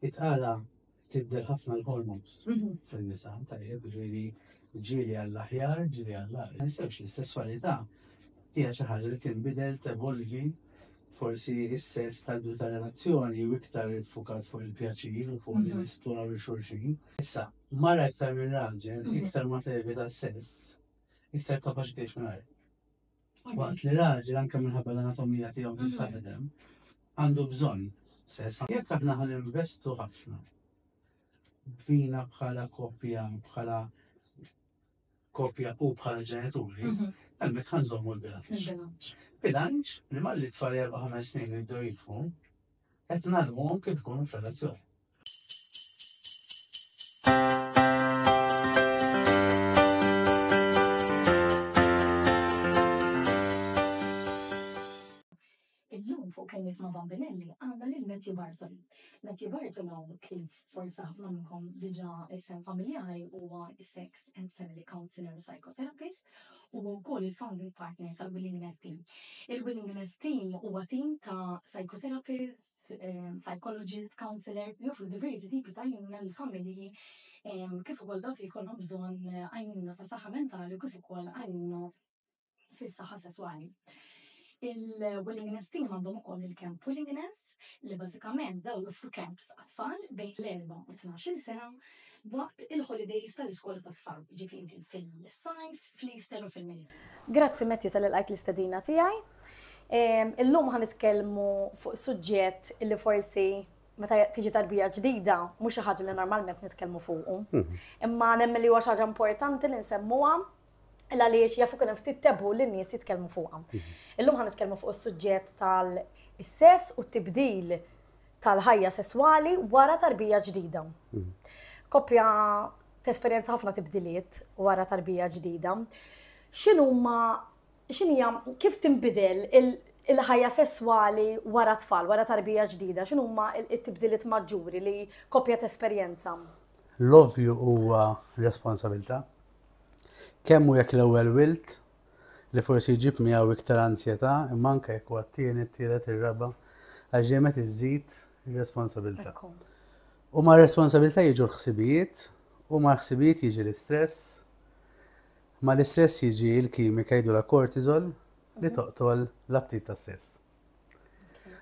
It-tqala tibdel ħafna l-hormones mhm. fin-nisa, tajjeb, ġieli ġieli għall-aħjar, ġieli għall-aħjar. Nisewx li s-sessualità hija xi ħaġa li tinbidel tevolvi forsi is-sess tal-bidu ta' relazzjoni u iktar fukat fuq il-pjaċir u fuq mhm. l-isploraw li xulxin. Issa, mara iktar minn raġel, mhm. iktar ma tevita s-sess, iktar kapaċi tgħix minn Waqt li raġel anke minħabba l-anatomija tiegħu mhux mhm. taħdem, għandu bżonn sesa. Jekk aħna ħan investu ħafna fina bħala kopja, bħala kopja u bħala ġenituri, mhm. hemmhekk ħan żommu l-bilanċ. Bilanċ li malli tfal erba' ħames snin jiddu jifu, qed nagħlmuhom kif ikunu f'relazzjoni. Matthew Barton. Matthew Barton għaw kif forsa ħafna minnkom diġa isem familjari huwa sex and family counselor u psychotherapist u wkoll il-founding partner tal-Willingness Team. Il-Willingness Team huwa team ta' psychotherapist, psychologist, counsellor, li joffru diversi tipi ta' għajnuna lill-familji kif ukoll dawk li jkollhom bżonn għajnuna ta' saħħa mentali u kif ukoll għajnuna fis-saħħa sesswali. Il-Willingness Team għandhom ukoll il-Camp Willingness li bażikament dawn joffru camps għat-tfal bejn l-erbgħa u t-tnax-il sena waqt il-holidays tal-iskola tat-tfal, jiġifieri fil-sajf, fl-Easter u fil-Military. Grazzi Matthew tal-li lqajt l-istedina tiegħi. Illum ħa nitkellmu fuq suġġett illi forsi meta tiġi tarbija ġdida mhux xi ħaġa li normalment nitkellmu fuqu. Imma nemmen li huwa xi ħaġa importanti li nsemmuha l-għaliex jafu kien hemm ftit tebu li n-nies jitkellmu fuqha. Mhm. Illum ħan nitkellmu fuq is-suġġett tal-sess u t-tibdil tal-ħajja sesswali wara tarbija ġdida. Mhm. Koppja tesperjenza ħafna tibdiliet wara tarbija ġdida. X'inhuma x'inhija kif tinbidel il-ħajja sesswali wara tfal, wara tarbija ġdida, x'inhuma t-tibdiliet maġġuri li koppja tesperjenza? L-ovvju huwa responsabilità Kemm hu jekk l-ewwel wild, li forsi jġib miegħu iktar anzjetà, imma anke jekk huwa t-tieni, t-tielet, ir-raba', għax dejjem qed iżżid ir-responsabilità. U mar-responsabilità jiġu l-ħsibijiet, u mal-ħsibijiet jiġi l-istress, mal-istress jiġi l-kimika jgħidulha cortisol li toqtol l-aptit tas-sess.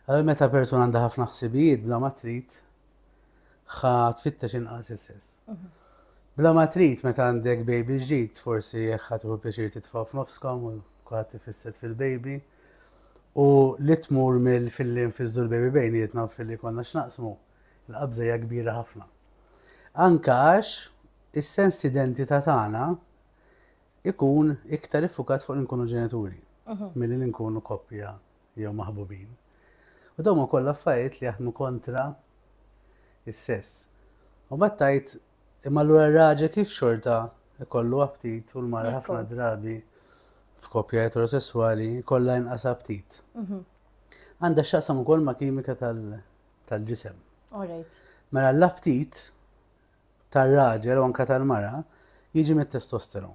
Għal meta persuna għandha ħafna ħsibijiet bla ma trid ħa tfittex inqas is-sess. Mhm. Bla ma trid meta għandek baby ġdid forsi ħa tieħu pjaċir titfa' f'nofskom u kulħadd tifisset fil-baby. U li tmur mill filli nfiżdu l-baby bejnietna filli konna x'naqsmu, l-qabża hija kbira ħafna. Anka għax is-sens identità tagħna ikun iktar iffukat fuq li nkunu ġenituri milli li nkunu koppja jew maħbubin. U dawn ukoll affarijiet li jaħdmu kontra is-sess. U bat tajt imma lura r-raġel kif xorta ikollu aptit u l-mara ħafna drabi f'koppja eterosessuali kollha inqas aptit. Mhm. Għandha x'aqsam ukoll ma' kimika tal-ġisem. Mela l-aptit tar-raġel u anke tal-mara jiġi mit-testosteron.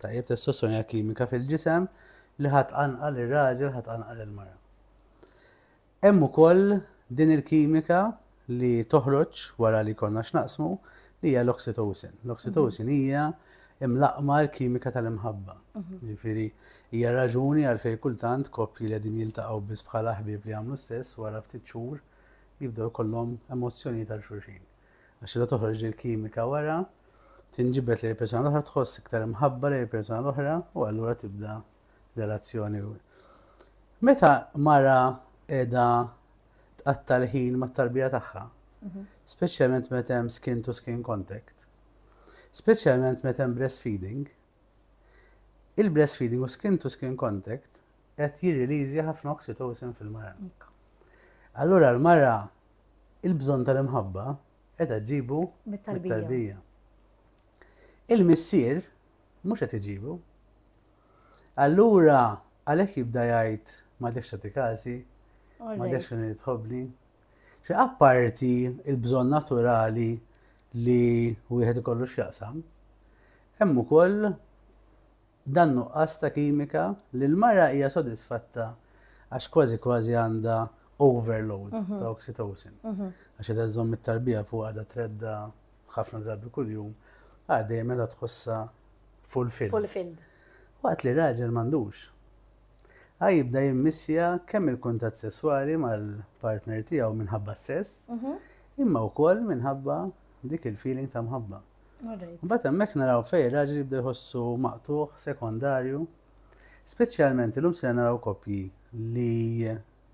Tajjeb, testosteron hija kimika fil-ġisem li ħadd qanqal ir-raġel, ħadd qanqal il-mara. Hemm ukoll din il-kimika li toħroġ wara li konna x'naqsmu li hija l-oxytocin. L-oxytocin hija imlaqma l-kimika tal-imħabba. Mhm. Ġifieri hija raġuni għalfejn kultant koppji li din jiltaqgħu biss bħala ħbieb li jagħmlu stess wara ftit xhur jibdew kollhom emozzjoni tal xulxin. Għax la toħroġ il-kimika wara, tinġibet li l-persona l-oħra tħoss iktar imħabba li l-persona l-oħra u allura tibda relazzjoni. Meta mara edha tqatta l-ħin ma tarbija tagħha, mhm. speċjalment meta hemm skin to skin contact, speċjalment meta hemm breastfeeding, il-breastfeeding u skin to skin contact qed jirriliżja ħafna oxytocin fil-mara. Allura l-mara Il-bżonn tal-imħabba qiegħda ġġibu mit-tarbija. Il-missier mhux qed iġibu. Allura għalhekk jibda jgħid ma dekx tagħti każi, ma dekx kien tħobbni. Xi apparti il-bżonn naturali li wieħed ikollu x'jaqsam, hemm ukoll Dan nuqqas ta' kimika li l-mara hija sodisfatta għax kważi kważi għandha overload ta' oxytocin. Għax qiegħda żżomm it-tarbija fuqha qiegħda treddha ħafna drabi kuljum, għad dejjem qiegħda tħossha fulfilled. Fulfilled. Waqt li raġel m'għandux. Għad jibda jimmissja kemm il-kuntatt sesswali mal-partner tiegħu minħabba s-sess, imma wkoll minħabba dik il-feeling ta' mħabba. Mbagħad hemmhekk naraw fejn raġel jibda jħossu maqtuħ, sekondarju. Speċjalment illum se naraw koppji li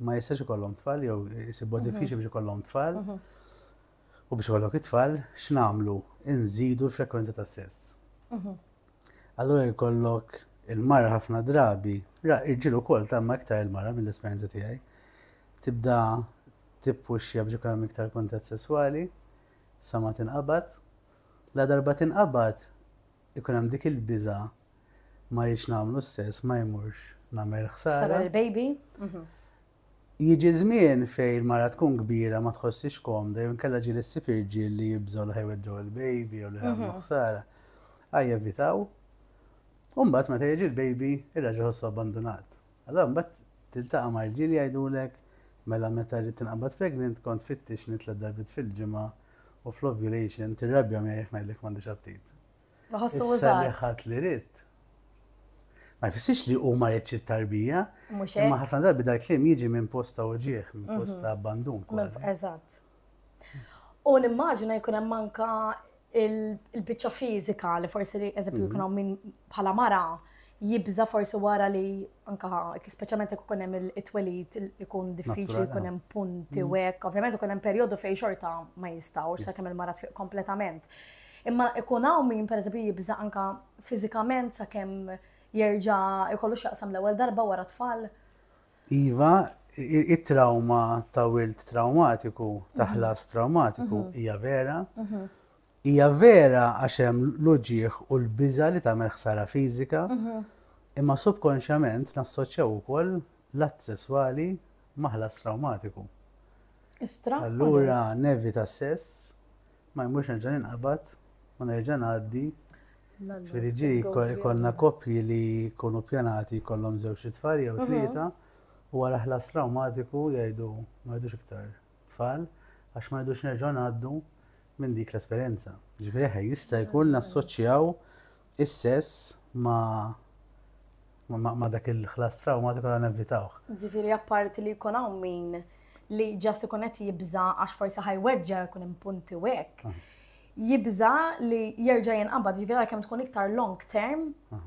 ma jistax ikollhom tfal jew isibu mhm. diffiċli biex ikollhom tfal. Mhm. U biex ikollok it-tfal, x'namlu? Inżidu l-frekwenza ta' sess. Mhm. Allura jkollok il-mara ħafna drabi, irġilu kol ta' ma iktar il-mara mill-esperienza tiegħi, tibda tippuxja biex ikollhom iktar kuntatt sesswali sa ma tinqabad. Ladarba tinqabad ikun hemm dik il-biża' ma rridx nagħmlu s-sess ma jmurx nagħmel ħsara. Ħsara lill-baby. Jiġi żmien fejn mara tkun kbira ma tħossix komda jew inkella ġieli ssib irġiel li jibżgħu li ħajweġġgħu l-baby jew li ħamlu ħsara. Ħaj jevitaw. U mbagħad meta jiġi l-baby irraġa' ħossu abbandunat. Allura mbagħad tiltaqa' ma' rġiel jgħidulek, mela meta rrid tinqabad pregnant kont fittixni tliet darbiet fil-ġimgħa u fl-ovulation tirrabja miegħi jekk ngħidlek m'għandix aptit. Iħossu użat. Issa li ħadt li ridt. Ma jfissirx li hu ma riedx it-tarbija. Mhux hekk. Imma ħafna darbi dal-kliem jiġi minn posta uġiegħ, minn posta abbandun. Eżatt. U nimmaġina jkun hemm anka il-biċċa fiżika li forsi li eżempju mhm. jkun hawn min bħala mara jibża forsi wara li anka speċjalment jekk ikun hemm it-twelid ikun diffiċli jkun hemm punti mhm. u hekk, ovvjament ikun hemm perjodu fejn xorta ma jistgħux sakemm il-mara tfiq kompletament. Imma ikun hawn min pereżempju jibża anka fiżikament sakemm jerġa' jkollu x'jaqsam l-ewwel darba wara tfal. Iva, it-trawma ta' wild trawmatiku, ta' ħlas trawmatiku, hija vera. Hija vera għax hemm l-uġieħ u l-biża li tagħmel ħsara fiżika, imma subkonxjament nassoċjaw ukoll l-att sesswali ma' ħlas trawmatiku. Allura nevita s-sess, Ma jmurx nerġa' ninqabad u nerġa' ngħaddi. Ġifieri ġi jkollna koppji li jkunu pjanati jkollhom żewġ itfal jew mhm. tlieta u wara ħlas trawmatiku jgħidu ma jgħidux iktar tfal għax ma jgħidux nerġa' ngħaddu minn dik l-esperjenza. Ġifieri jista' jkun nassoċjaw is-sess ma' Ma dak il-ħlas trawmatiku għandna nevitawh. Ġifieri apparti li jkun hawn min li ġast ikun qed jibża għax forsi ħajweġġa jkun hemm punti u hekk. Ah. Jibża li jerġa' jinqabad ġifieri għalkemm tkun iktar long term ah.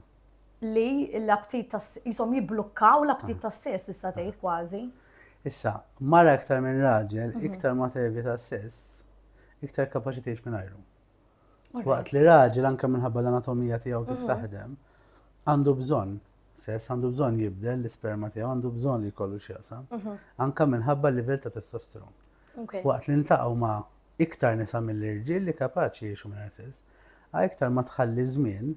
li l-aptit tas jisom jibblukkaw l-aptit ah. tas-sess tista' tgħid kważi. Issa, mara iktar minn raġel, mhm. iktar ma tevi tas-sess, iktar kapaċi tgħix minn ajru. Waqt li raġel anke minħabba l-anatomija tiegħu kif mhm. taħdem, għandu bżonn sess, għandu bżonn jibdel l-isperma tiegħu, għandu bżonn li jkollu x'jaqsam, mhm. anke minħabba l-livell ta' testosteron. Waqt li ntaqgħu ma' iktar nisa mill-irġiel li kapaċi jiexu minn sess, għaj iktar ma tħalli żmien,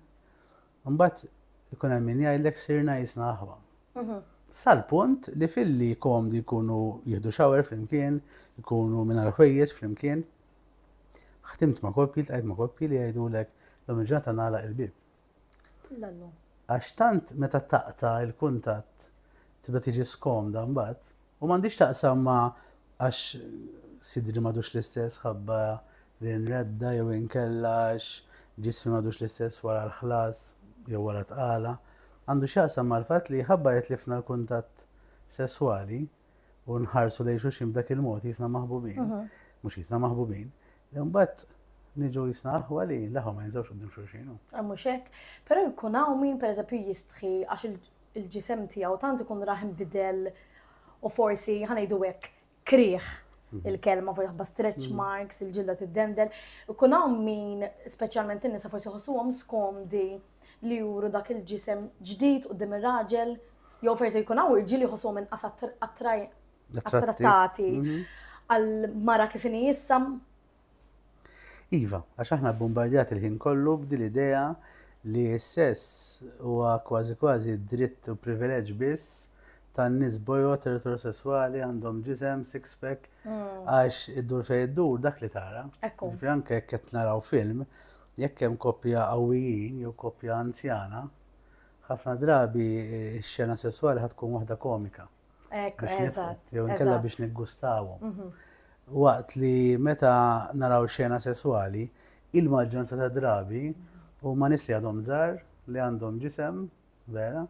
mbagħad ikun hemm min jgħidlek sirna jisna aħwa. Mhm. Sal-punt li filli komdi jkunu jieħdu xawer flimkien, jkunu minn ħwejjeġ flimkien, Ħdimt ma' koppji, ltqajt ma' koppji li jgħidulek lum il-ġurnata nagħlaq il-bieb. Lallu. Għax tant meta taqta' il-kuntatt tibda tiġi skomda mbagħad u m'għandix taqsam ma' għax sidri m'għadux l-istess ħabba li nredda jew inkella għax ġismi m'għadux l-istess wara l-ħlas jew wara tqala. Għandu x'jaqsam mal-fatt li ħabba li tlifna l-kuntatt sesswali u nħarsu lejn xulxin b'dak il-mod jisna maħbubin, mhm. mhux jisna maħbubin, imbagħad niġu jisna aħwa li laħu ma jinżawx qudiem xulxin. Mhux hekk, però jkun hawn min pereżempju jistħi għax il-ġisem tiegħu tant ikun raħ bidel u forsi ħanejdu hekk krieħ mhm. il-kelma fuq jaħba stretch mhm. marks, il-ġilda tiddendel. Ikun hawn min speċjalment in-nisa forsi ħossuhom skomdi li juru dak il-ġisem ġdid quddiem ir-raġel, jew forsi jkun hawn irġiel jħossuhom inqas attrattati mhm. għal mara kif inhi issa. Iva, għax aħna bombardjat il-ħin kollu b'dil idea li s-sess huwa kważi kważi dritt u privileġġ biss tan nies bojot eterosessuali għandhom ġisem six pack mm. għax id-dur fej id-dur dak li tara. Ekku. Anke qed naraw film Jekk hemm koppja qawwijin jew koppja anzjana, ħafna drabi x-xena sesswali ħad tkun waħda komika. Ekk, eżatt. Jew inkella biex niggustawhom. Mhm. Waqt li meta naraw xena sesswali, il-maġġoranza ta' drabi u ma nisli għadhom żar li għandhom ġisem, vera.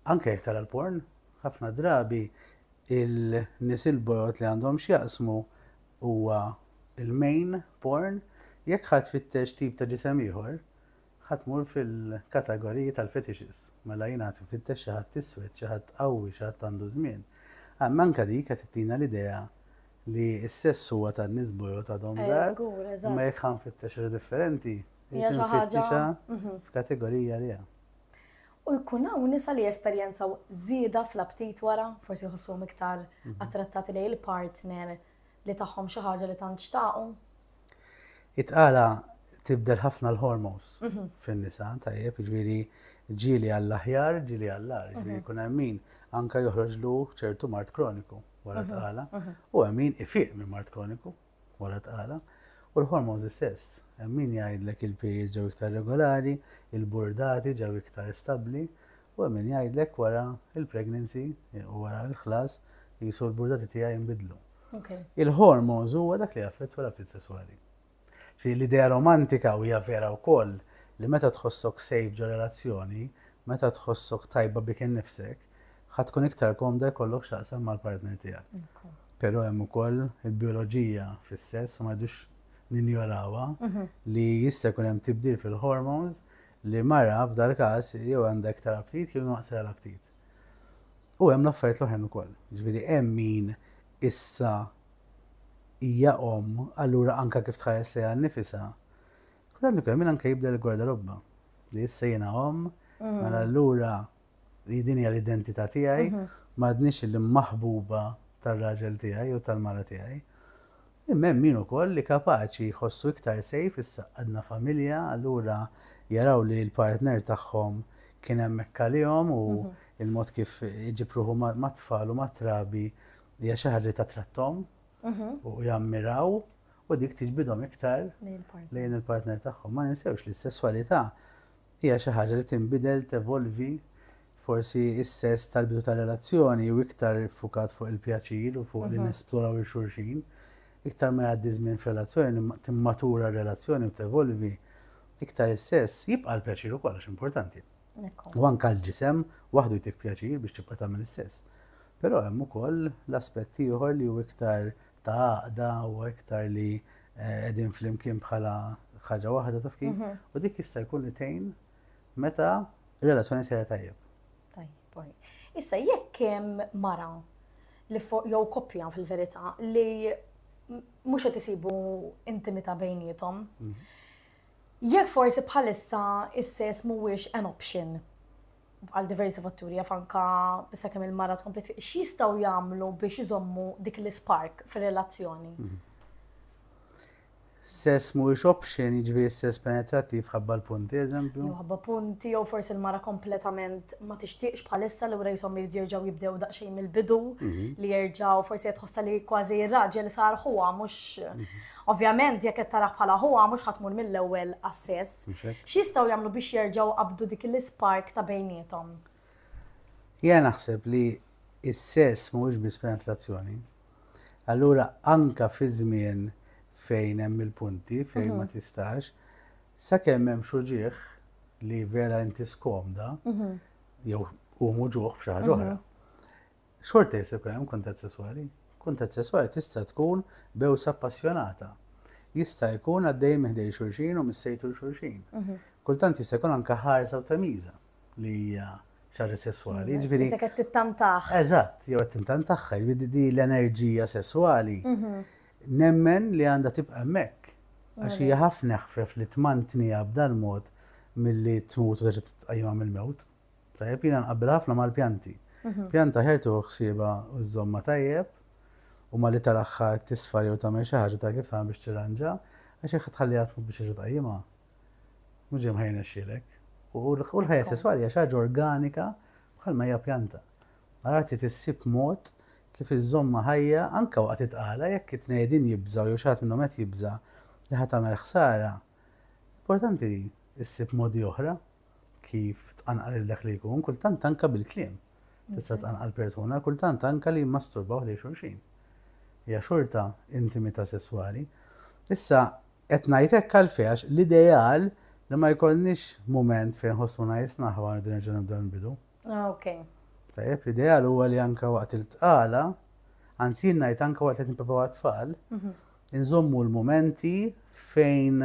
Anke jek tara l-porn, ħafna drabi il-nis il-bojot li għandhom xjaqsmu huwa l-main porn, jekk ħa tfittex tip ta' ġisem ieħor, ħa tmur fil-kategoriji tal-fetishes. Mela jiena qed infittex xi ħadd iswed, xi ħadd qawwi, xi ħadd għandu żmien. Għandna anke dik qed ittina l-idea li s-sess huwa tan-nies bojod għadhom eh, żgħar. Imma jekk ħa nfittex differenti, jrid nfittixha mhm. f'kategorija li hemm. U jkun hawn nisa li jesperjenzaw żieda fl-aptit wara, forsi jħossuhom iktar attrattati lejn il-partner li tagħhom xi ħaġa li tant xtaqu. It-tqala tibdel ħafna l-hormones fin-nisa, tajjeb, jiġifieri ġieli għall-aħjar, ġieli għall-ar, jiġifieri jkun hemm min anke joħroġlu ċertu mart kroniku wara t-tqala u hemm min ifiq minn mart kroniku. wara tqala, u l-hormones istess. Hemm min jgħidlek il-periods ġew iktar regolari, il-burdati ġew iktar stabbli, u hemm min jgħidlek wara l-pregnancy u wara l-ħlas qisu l-burdati tiegħi jinbidlu. Okay. Il-hormones huwa dak li jaffettwa l-aptit sesswali. Fi l-idea romantika u hija vera wkoll li meta tħossok safe ġo relazzjoni, meta tħossok tajba bik innifsek, ħa tkun iktar komda jkollok x'taqsam mal-partner tiegħek. Però hemm ukoll il-bioloġija fis-sess u ma jdux ninjorawha mhm. li jista' jkun hemm tibdil fil-hormones li mara f'dal każ jew għandha iktar aptit jew naqsra l-aptit. U hemm l-affarijiet l-oħrajn ukoll. Ġifieri hemm min issa hija om, allura anka kif tħares li għan nifisa, kull għandu kemm anka jibda l-gwarda robba. Li issa jiena om, mm. mela allura li din hija l-identità tiegħi, mhm. m'għadniex il-maħbuba tar-raġel tiegħi u tal-mara tiegħi. Imma hemm min ukoll li kapaċi jħossu iktar sejf issa għadna familja, allura jaraw li l-partner tagħhom kien hemm għalihom u mhm. il-mod kif iġipruħu mat-tfal u mat-trabi hija xi ħaġa ta' trattom mhm. u jammiraw u dik tiġbidhom iktar lejn il-partner tagħhom. Ma ninsewx li s-sesswalità Hija xi ħaġa li tinbidel, tevolvi. Forsi s-sess tal-bidu tar-relazzjoni hu iktar iffukat fuq il-pjaċir u fuq li nesploraw lil xulxin. Iktar ma jgħaddi żmien f'relazzjoni, timmatura r-relazzjoni u tevolvi, iktar is-sess jibqa' l-pjaċir ukoll għax importanti. U anke l-ġisem waħdu jtik pjaċir biex tibqa' tagħmel is-sess. Però hemm ukoll l-aspett ieħor li hu iktar ta' għaqda u iktar li qegħdin flimkien bħala ħaġa waħda taf kif, mhm. u dik jista' jkun li tgħin meta relazzjoni sejra tajjeb. Tajjeb, Issa jekk hemm mara li jew koppja fil-verità li mhux qed isibu intimità bejnietom. Mhm. Jekk forsi bħalissa is-sess mhuwiex an option għal diversi fatturi jaf anka issa kemm il-mara tkompli tfiq, x'jistgħu jagħmlu biex iżommu dik l-ispark fir-relazzjoni? Mhm. Sess mhuwiex option, jiġifieri sess penetrattiv ħabba l-punti, eżempju. Ħabba punti jew forsi l-mara kompletament ma tixtieqx bħalissa li wra jisom jerġgħu jibdew daqsxejn mill-bidu mhm. li jerġgħu forsi qed tħossha li kważi r-raġel sar ħuha mhux mhm. ovvjament jekk qed tara bħala ħuha mhux ħadd tmur mill-ewwel għas-sess X'jistgħu jagħmlu biex jerġgħu jqabbdu dik l-ispark ta' bejniethom? Jiena naħseb li s-sess mhuwiex biss penetrazzjoni. Allura anke fi żmien fejn hemm il-punti, fejn ma mhm. tistax, sakemm hemm xuġieħ li vera inti skomda, mhm. jew hu muġuħ b'xi ħaġa mhm. oħra. Xorta jista' jkun hemm kuntatt sesswali. Kuntatt sesswali tista' tkun bewsa appassjonata. Jista' jkun għaddej minn ħdejn xulxin u mis-sejtu 'l xulxin. Kultant jista' jkun anke ħarsa u tamiża li hija xi ħaġa sesswali. Jiġifieri. Isek qed tittantah. Eżatt, jew qed tintantah. Jiġifieri din l-enerġija sesswali nemmen li għandha tibqa' hemmhekk għax hija ħafna eħfef li tmantniha b'dal-mod milli tmut u terġa' titqajjimha mill-mewt. Tajjeb, jiena nqabbel ħafna mal-pjanti. Mhm. Pjanta ħer tuħu ħsieba u żomma tajjeb u ma li tal-axħa tisfar jew tagħmel xi ħaġa ta' kif tagħmel biex tirranġa, għax jekk tħalli għatmu biex iġu tajjima. Mhux ġejm ħajna xilek. U l-ħajja sesswali hija xi ħaġa organika bħalma hija pjanta. Għarati tissib mod kif iż-żomma ħajja anka waqt itqala jekk it-tnejdin jibżaw jew xaħat minnhom qed jibża li ħadd tagħmel ħsara. Importanti issib modi oħra kif tqanqal il dak li jkun, kultant anka bil-kliem. Tista' tqanqal persuna, kultant anka li jmasturbaw li xulxin. Hija xorta intimità sesswali. Issa, qed ngħid hekk għalfejn għax l-ideal li ma jkollniex mument fejn ħossuna jisna ħwa nibdew nerġa' nibdew nbidu. Ah, ok. Tajjeb, l-ideal huwa li anka waqt il-tqala, anzi jien ngħid anka waqt li nipprovaw għat-tfal, mhm. inżommu l-momenti fejn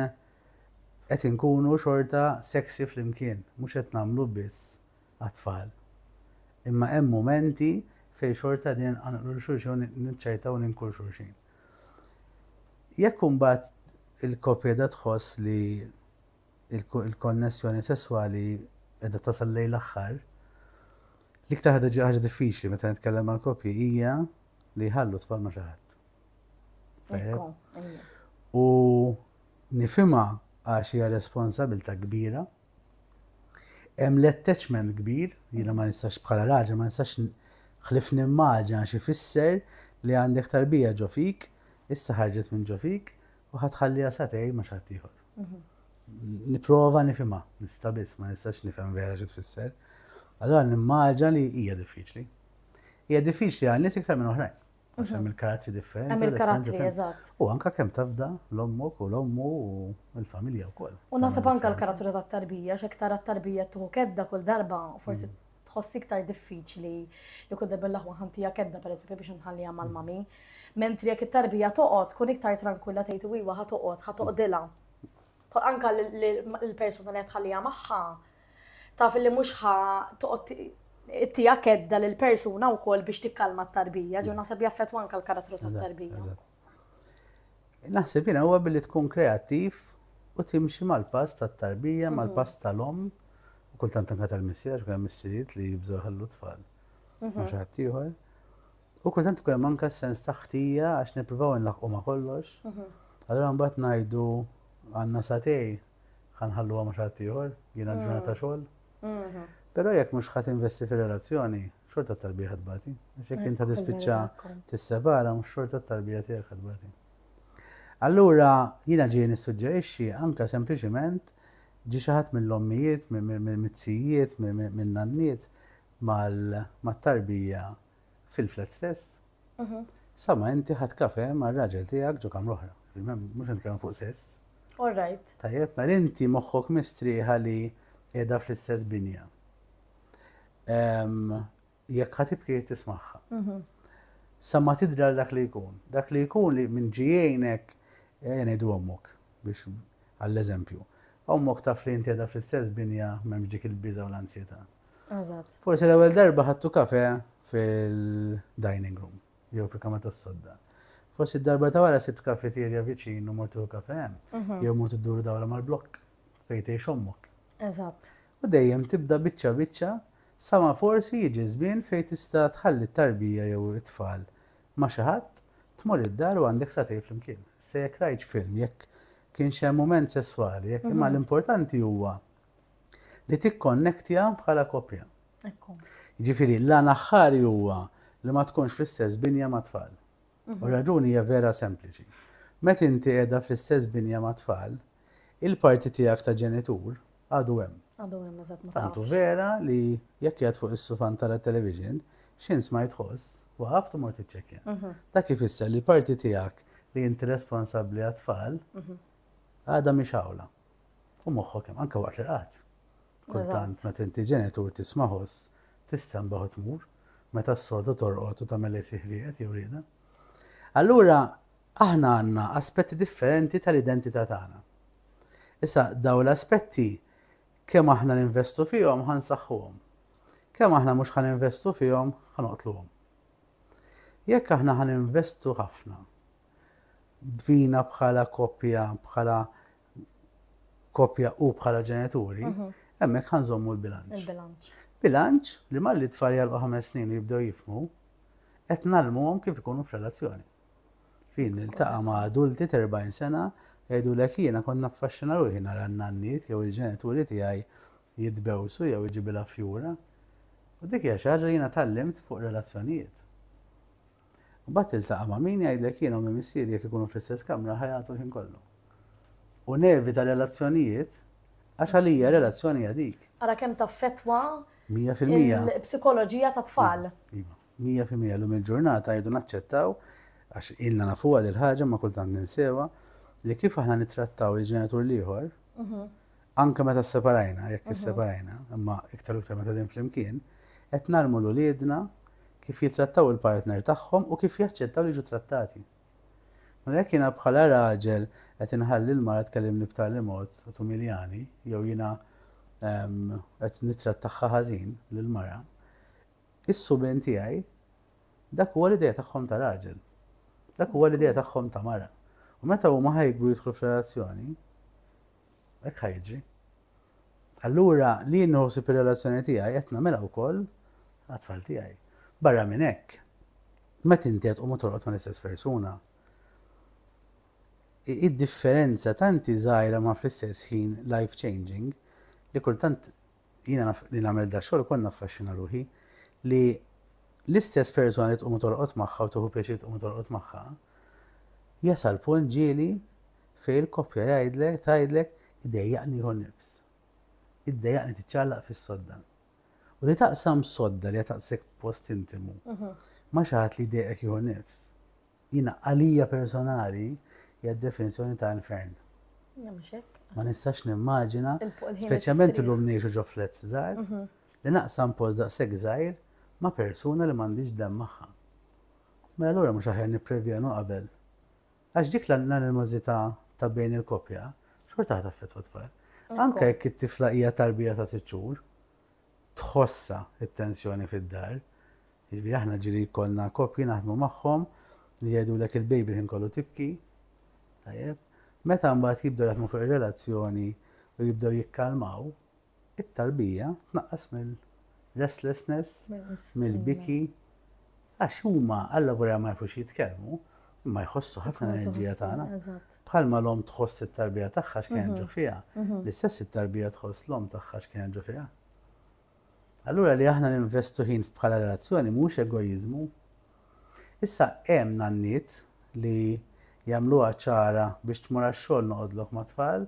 qed inkunu xorta sexy flimkien, mhux qed nagħmlu biss għat-tfal. Imma hemm mumenti fejn xorta qegħdin inqanqlu lil xulxin u niċċajtaw u ninku lil xulxin. Jekk imbagħad il-koppja qiegħda tħoss li l-konnessjoni sesswali qiegħda tasal lejn l-aħħar, l-iktar ħaġa diffiċli meta nitkellem mal-koppji hija li jħallu tfal ma' xi ħadd. U nifima għax hija responsabilta kbira. Hemm l-attachment kbir, jiena ma nistax bħala raġel, ma nistax ħlif nimmaġa għax ifisser li għandek tarbija ġo fik, issa ħarġet minn ġo fik, u ħatħalli għasatej ma xattiħor. Mhm. Niprofa nifima, nista biss, ma nistax nifhem vera xi tfisser. Allora nimmaġa li hija diffiċli. Hija diffiċli għal nies iktar minn oħrajn. Għax hemm il-karattri differenti. Hemm il-karattri, eżatt. U anka kemm tafda l-ommok u l-ommu u l-familja wkoll. U naħseb anka l-karattri tat-tarbija, x'hekk tara t-tarbija tuħu kedda kull darba, forsi mm. tħossi iktar diffiċli li kull darba l-aħwa ħantija kedda pereżempju biex nħallija mm. mal-mami. Mentri jekk it-tarbija toqgħod tkun iktar tranquilla tgħid iwa ħa toqgħod, ħa toqdilha. Anka l-persuna li tħallija magħha Taf illi mhux ħa toqgħod ittija kedda lil persuna wkoll biex tikkalma t-tarbija, ġew naħseb jaffettwa anke l-karattru tat-tarbija. Naħseb jiena huwa billi tkun kreattiv u timxi mal-pass tat-tarbija, mhm. mal-pass tal-om, u kultant anka tal-missier, kull missieriet li jibżgħu ħallu tfal. Mhm. Ma xi ħadd ieħor. U kultant ukoll manka sens ta' ħtija għax nippruvaw nlaħqu ma' kollox. Mhm. Allura mbagħad ngħidu għandna satej ħa nħalluha ma' xi ieħor, jiena ġurnata mm. xogħol. Mm-hmm. Però jekk mhux ħadd investi fir-relazzjoni, xorta tarbija ħad bati. Għax jekk inta tispiċċa tissepara mhux xorta tarbija tiegħek ħad bati. Allura jiena ġieli nissuġġerixxi anke sempliċement ġi xi ħadd mill-ommijiet, mill-mizzijiet, mill-nanniet mal-tarbija fil-flat stess, mhm. sama inti ħat kafe ma' raġel tijak ġo kamra oħra. Mux nitkellem fuq sess. All right. Tajjeb, ma' inti moħħok mistriħa li edha fl-istess binja. Jekk ħat ibki tismaħħa. Mhm. Sama tidra dak li jkun. Dak li jkun li minn ġijienek jenidu eh, għommok biex għall-eżempju. Għommok taf li inti edha fl-istess binja memġik il-biza u l-ansjeta. Eżatt. Forsi l-ewwel darba ħadtu kafe fil-dining room, jew fil-kamra tas-sodda. Forsi d-darba ta' wara sibt kafeterja viċin u mortu kafe hemm, mhm. jew mortu dur dawra mal-blokk fejn tgħix ommok. Eżatt. U dejjem tibda biċċa biċċa sama forsi jiġi żmien fejn tista' tħalli t-tarbija jew it-tfal ma' xi ħadd tmur id-dar u għandek sa tgħid flimkien. Se jekk rajt film, jekk kien xem mument sesswali, jekk imma mhm. l-importanti huwa li tikkonnektja bħala koppja. Jiġifieri l-għan aħħari huwa li ma tkunx fl-istess binja mat-tfal. U r-raġuni hija vera sempliċi. Meta inti qiegħda fl-istess binja mat-tfal, il-parti tiegħek ta' ġenitur għadu hemm. Għadu hemm eżatt ma Tantu vera li jekk qiegħed fuq is-sufan tara television, x'ins ma jitħoss, waqaf timur tiċċekkja. Mhm. Dak kif isser li parti tiegħek li inti responsabbli għat-tfal mhm. għadha mhix awla. U moħħok hemm anke waqt l-qat. Kultant meta inti ġenitur tismaħos tista' mbaħu tmur meta s-soltu torqod u tagħmel lejsi ħrieqet jew rieda. Allura aħna għandna aspetti differenti tal-identità tagħna. Issa daw l-aspetti kemm aħna ninvestu fihom ħansaħħuhom. Kemm aħna mhux ħan investu fihom ħanoqtluhom. Jekk aħna ħan investu ħafna bina bħala koppja, bħala koppja u bħala ġenituri, mhm. hemmhekk ħanżommu l-bilanċ. Il-bilanċ. Bilanċ li malli tfal jalqu ħames snin u jibdew jifmu, qed nalmuhom kif ikunu f'relazzjoni. Fin niltaqa' ma' adulti 40 sena jgħidu l jiena konna affaxxina ruħi nara n-nanniet jew il-ġenituri tiegħi jitbewsu jew iġibilha fjura. U dik hija xi ħaġa jiena tallimt fuq relazzjonijiet. Mbagħad tiltaqa' ma' min jgħidlek jiena u minn missieri jekk ikunu fl-istess kamra ħajatu l-ħin kollu. U nevita relazzjonijiet għax għalija relazzjoni hija dik. Ara kemm taffettwa il-psikoloġija tat-tfal. Iva, mija fil-mija llum il-ġurnata jridu naċċettaw għax ilna nafuha dil-ħaġa ma kultant ninsewa li kif aħna nittrattaw il-ġenitur l-ieħor mhm. anke meta sseparajna, jekk isseparajna, imma iktar u iktar meta din flimkien, qed nagħlmu l-uliedna kif jitrattaw il-partner tagħhom u kif jaċċettaw li jiġu trattati. Mela jekk jiena bħala raġel qed inħalli l-mara tkellimni b'tali mod u tumiljani, jew jiena ehm, qed nittrattaħħa ħażin lill-mara, is-suben tiegħi dak huwa l-idea tagħhom ta' raġel. Dak huwa l-idea tagħhom ta' mara. U meta huma ħajkbu jidħlu f'relazzjoni, Hekk ħa jiġri. Allura li jien nħossib ir-relazzjoni tiegħi qed nagħmilha wkoll għat-tfal tiegħi. Barra minn hekk, meta inti qed tqum torqod mal-istess persuna, id-differenza tanti żgħira ma fl-istess ħin life changing li kultant jiena li nagħmel da xogħol konna affaxxina ruħi li l-istess persuna li tqum torqod magħha u tuħu pjaċir tqum torqod magħha jasal punt ġieli Fejn il-koppja jgħidlek, tgħidlek, idejjaqni nieħu n-nifs. Iddejjaqni tiċċallaq fis-sodda. U li taqsam sodda li taqsek post intimu. Ma xi ħadd li jdejjaqek jieħu nifs. Jiena għalija personali hija d-definizzjoni ta' infern. Ma nistax nimmaġina, speċjalment illum ngħixu ġo flets żgħar, mhm. li naqsam post daqshekk żgħir ma' persuna li m'għandix dem magħha. Mela allura mhux aħjar nipprevjenu qabel Għax dik l-animożità ta' bejn il-koppja xorta ħadd affettwa t-tfal. Anke jekk it-tifla hija tarbija ta' sitt xhur, tħossha it-tensjoni fid-dar. Jiġifieri aħna ġiri jkollna koppji naħdmu magħhom li jgħidulek il-baby ħin kollu tibki. Tajjeb. Meta mbagħad jibdew jaħdmu fuq ir-relazzjoni u jibdew jikkalmaw, it-tarbija tnaqqas mill-restlessness, mill-biki, għax huma alla volja ma jafux jitkellmu, imma jħossu ħafna enerġija tagħna. Bħalma l-om tħoss it-tarbija tagħha x'kien ġo mhm. fiha, mhm. l-istess it-tarbija tħoss l-om tagħha x'kien ġo fiha. Allura li aħna ninvestu ħin bħala relazzjoni mhux egoizmu. Issa hemm nanniet li jagħmluha ċara biex tmur għax-xogħol noqgħodlok ma' tfal,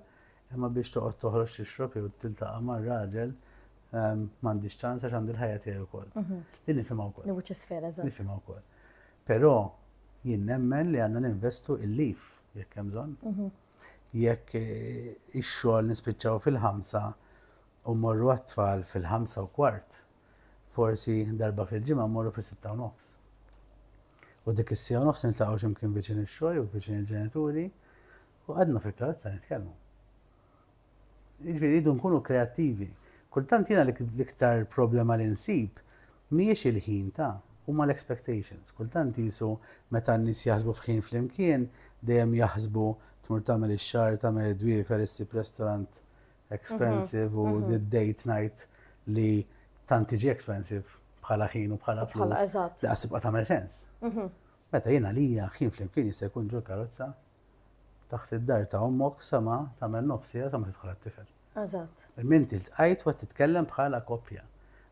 Imma biex toqgħod toħroġ tixrob jew tiltaqa' ma' raġel ehm, m'għandix ċans għax għandi l-ħajja tiegħi wkoll. Mhm. Din nifhimha wkoll. Li wiċċ isfel eżatt. Nifhimha wkoll. Però jien nemmen li għandna ninvestu il-lif jekk hemm bżonn. Mhm. Jekk eh, ix-xogħol nispiċċaw fil-ħamsa u morru għat-tfal fil-ħamsa u kwart, forsi darba fil-ġimgħa morru fis-sitta u nofs. U dik is-sija u nofs niltaqgħu x'imkien viċin ix-xogħol u viċin il-ġenituri U għadna fil-karozza nitkellmu. Jiġifieri rridu nkunu kreattivi. Kultant jiena l-iktar problema li nsib mhijiex il-ħin ta' huma l-expectations. Kultant qisu meta n-nies jaħsbu f'ħin flimkien, dejjem jaħsbu tmur tagħmel ix-xahar, tagħmel id-dwiefer, issib restaurant expensive u d-date night li tant tiġi expensive bħala ħin u bħala flus. Bħala eżatt. Li qasib tagħmel sens. Meta jiena lija ħin flimkien jista' jkun ġol karozza taħt id-dar ta' ommok sa ma tagħmel nofsiha sa ma tidħol għat-tifel. Eżatt. Imma inti ltqajt u qed titkellem bħala koppja.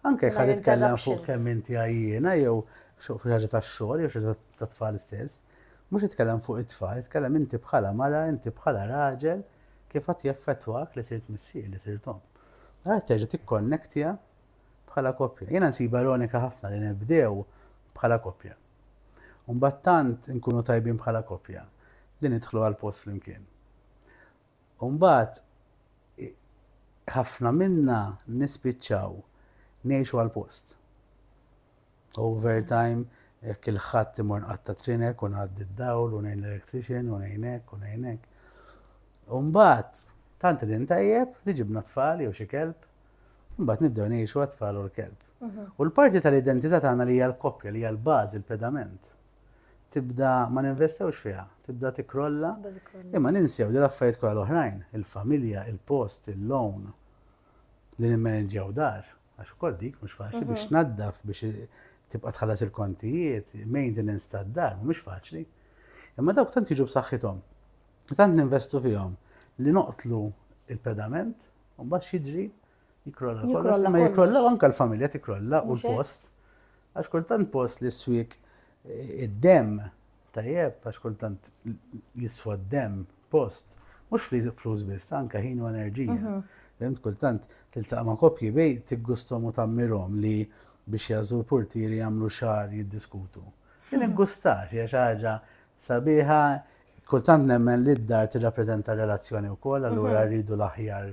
Anke jekk qed titkellem fuq kemm inti għajjiena jew fuq ħaġa tax-xogħol jew xi tat-tfal stess, mhux titkellem fuq it-tfal, titkellem inti bħala mara, inti bħala raġel kif qed jaffettwak li sirt missier, li sirt omm. Għad terġa' tikkonnektja bħala koppja. Jiena nsib ironika ħafna li nibdew bħala koppja. U mbagħad tant inkunu tajbin bħala koppja li nidħlu għal post flimkien. U mbagħad ħafna minna nispiċċaw ngħixu għal post. Overtime, jekk il-ħadd imur nqatta' trinek u ngħaddi d-dawl u ngħin l-electrician u ngħinek u ngħinek. U mbagħad tant din tajjeb li ġibna tfal jew xi kelb Mbagħad nibdew ngħixu għat-tfal u l-kelb. Mhm. U l-parti tal-identità tagħna li hija l-koppja, li hija l-bażi, l-pedament, tibda ma ninvestewx fiha, tibda tikrolla. Imma ninsew li l-affarijiet kollha l-oħrajn, il-familja, il-post, il-loan, li nimmanġew dar, għax ukoll dik mhux faċli biex mhm. naddaf biex tibqa' tħallas il-kontijiet, maintenance tad-dar, mhux faċli. Imma dawk tant jiġu b'saħħithom, tant ninvestu fihom li noqtlu il-pedament U mbagħad xidri jikrolla kollox, ma jikrolla anke l-familja tikrolla u l-post. Għax kultant post li s-swik eh, id-dem tajjeb, għax kultant jiswa d-dem post, mhux li flus biss, anke ħin u enerġija. Mhm. Fimt kultant tiltaqa' ma' koppji bej tiggustom u tammirhom li biex jażu l-portieri jagħmlu xar jiddiskutu. Din mhm. iggustax hija xi ħaġa sabiħa Kultant nemmen li d-dar tirrappreżenta r-relazzjoni wkoll, allura rridu l-aħjar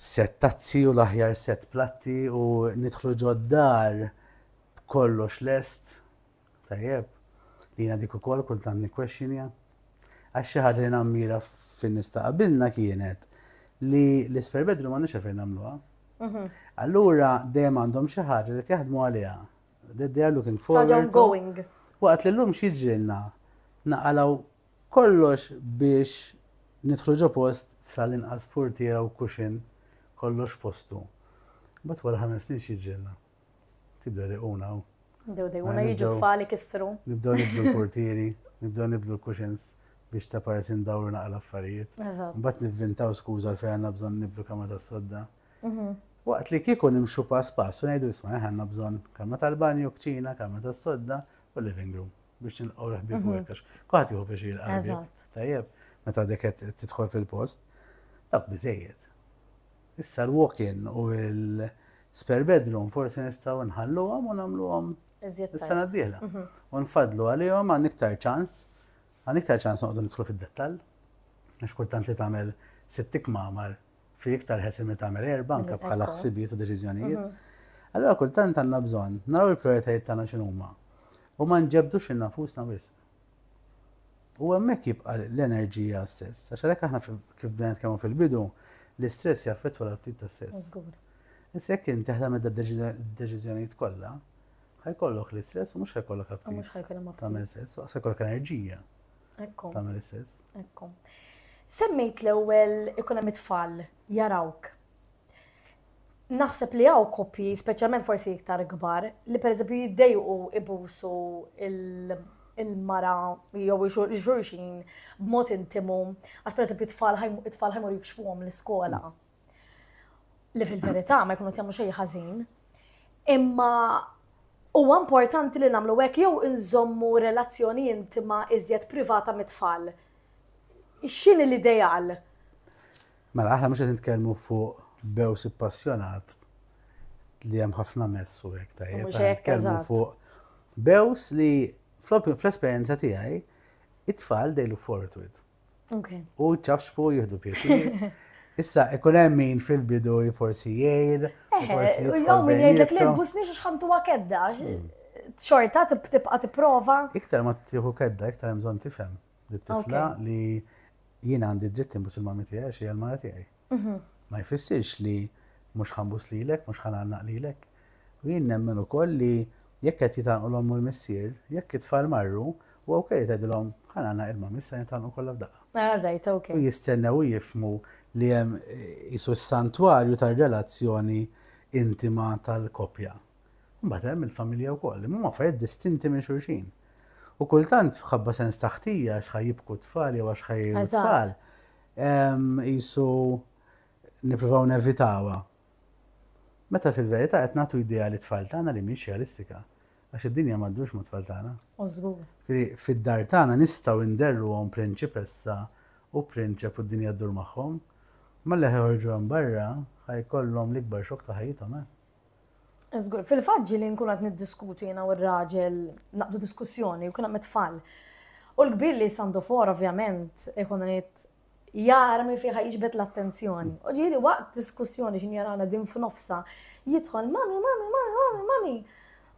sett tazzi u l-aħjar sett platti u nidħlu ġod-dar b'kollox lest. Tajjeb, li jiena dik ukoll kultant nikkwexxinja. Għax xi ħaġa li nammira fin-nies ta' qabilna kienet li l-isper bedru ma nix fejn nagħmluha. Mhm. Allura dejjem għandhom xi ħaġa li jaħdmu għaliha. They are looking forward. Saġa ongoing. Waqt li l-lum xieġrilna naqalaw kollox biex nidħlu ġo post sal-inqas portiera u kuxin kollox postu. Bat wara ħames snin xieġrilna. Tibda li una. Dew dej una jiġu tfali kissru. Nibdew nibdu l-portieri, nibdew nibdu l-kuxins biex ta' parsi ndawru naqla affarijiet. Bat nivvintaw skuza l-fejn għanna bżon nibdu kama ta' sodda. Waqt li kieku nimxu pass pass u ngħidu isma' aħna għandna bżonn kamra tal-banju, kċina, kamra tas-sodda u living room biex nilqgħu l-ħbieb u hekk. Kwaħt jieħu biex jilqa' Tajjeb, meta dik qed tidħol fil-post, dak biżejjed. Issa l-walk-in u l-spare bedroom forsi nistgħu nħalluhom u nagħmluhom is-sena d-dieħla. Mhm. U nfadlu għalihom għan iktar ċans, għan iktar ċans noqogħdu nidħlu fid-dettall. Għax kultant li tagħmel sittik mamar fi iktar ħesin li tagħmel erba' anke bħala ħsibijiet u deċiżjonijiet. Mhm. Allora kultant għandna bżonn naraw il-prioritajiet tagħna x'inhuma u ma nġebdux il-nafusna wisq. U hemmhekk jibqa' l-enerġija stess, għax għalhekk aħna kif bdejna kemm fil-bidu, l-istress jaffettwa l-aptit ta' stess. Issa jekk inti ħdem id-deċiżjonijiet kollha, ħajkollok l-istress u mhux ħajkollok aptit. Mhux ħajkollok aptit. Tagħmel sess, ħajkollok enerġija. tagħmel is-sess. Ekku. Semmejt l-ewwel ikun hemm it-tfal jarawk. Naħseb li hawn koppji, speċjalment forsi iktar kbar, li pereżempju jiddejqu ibusu il-mara jew xulxin b'mod intimu, għax pereżempju it-tfal ħajmur jikxfuhom l-iskola. Li fil-verità ma jkunu jagħmlu xejn ħażin. Imma huwa importanti li nagħmlu hekk jew inżommu relazzjoni intima iżjed privata mit-tfal. X'inhi l-ideal? Mela aħna mhux qed nitkellmu fuq bews ippassjonat li hemm ħafna messu hekk tajjeb. Mhux hekk eżatt. Fuq bews li fl-esperjenza tiegħi it-tfal they look forward to it. U ċafxku jihdu pjesi. Issa, ikun hemm min fil-bidu forsi jgħid, eh, forsi jgħid. Jew min jgħidlek li tbusni xi xħamtu kedda. Hmm. Xorta tibqa' tipprova. Iktar ma tieħu kedda, iktar hemm bżonn tifhem. Tifla li jien għandi dritt imbus il-mami tiegħi xi għal-mara tiegħi. Mhm. Ma jfissirx li mhux ħambus lilek, mhux ħanannaq lilek. U jien nemmen ukoll li jekk qed jitanqu l-omm u l-missier, jekk it-tfal marru, u ok li tgħidilhom ħanana il-mam issa jintanqu kollha f'daqqa. Mela rajt, ok. U jistennew jifmu li hemm isu s-santwarju tar-relazzjoni intima tal-koppja. Mbagħad hemm il-familja wkoll, imma huma affarijiet distinti minn xulxin. U kultant ħabba sens taħtija x'ħaj jibku tfal jew għax ħaj tfal. Qisu nippruvaw nevitawha. Meta fil-verità qed nagħtu idea li tfal tagħna li mhix realistika. Għax id-dinja ma ddurx mat-tfal tagħna. U żgur. Fid-dar tagħna nistgħu nderruhom prinċipessa u prinċep u d-dinja ddur magħhom. Imma li ħa joħorġu hemm barra ħa jkollhom l-ikbar xokk ta' ħajjithom, eh! Żgur, fil-fatt ġieli nkun qed niddiskutu jiena u r-raġel naqdu diskussjoni u kien hemm it-tfal. U l-kbir li sandofor ovvjament ikun irid jara minn fiha jiġbed l-attenzjoni. U ġieli waqt diskussjoni x'in jarana din f'nofsa jidħol mami, mami, mami, mami, mami.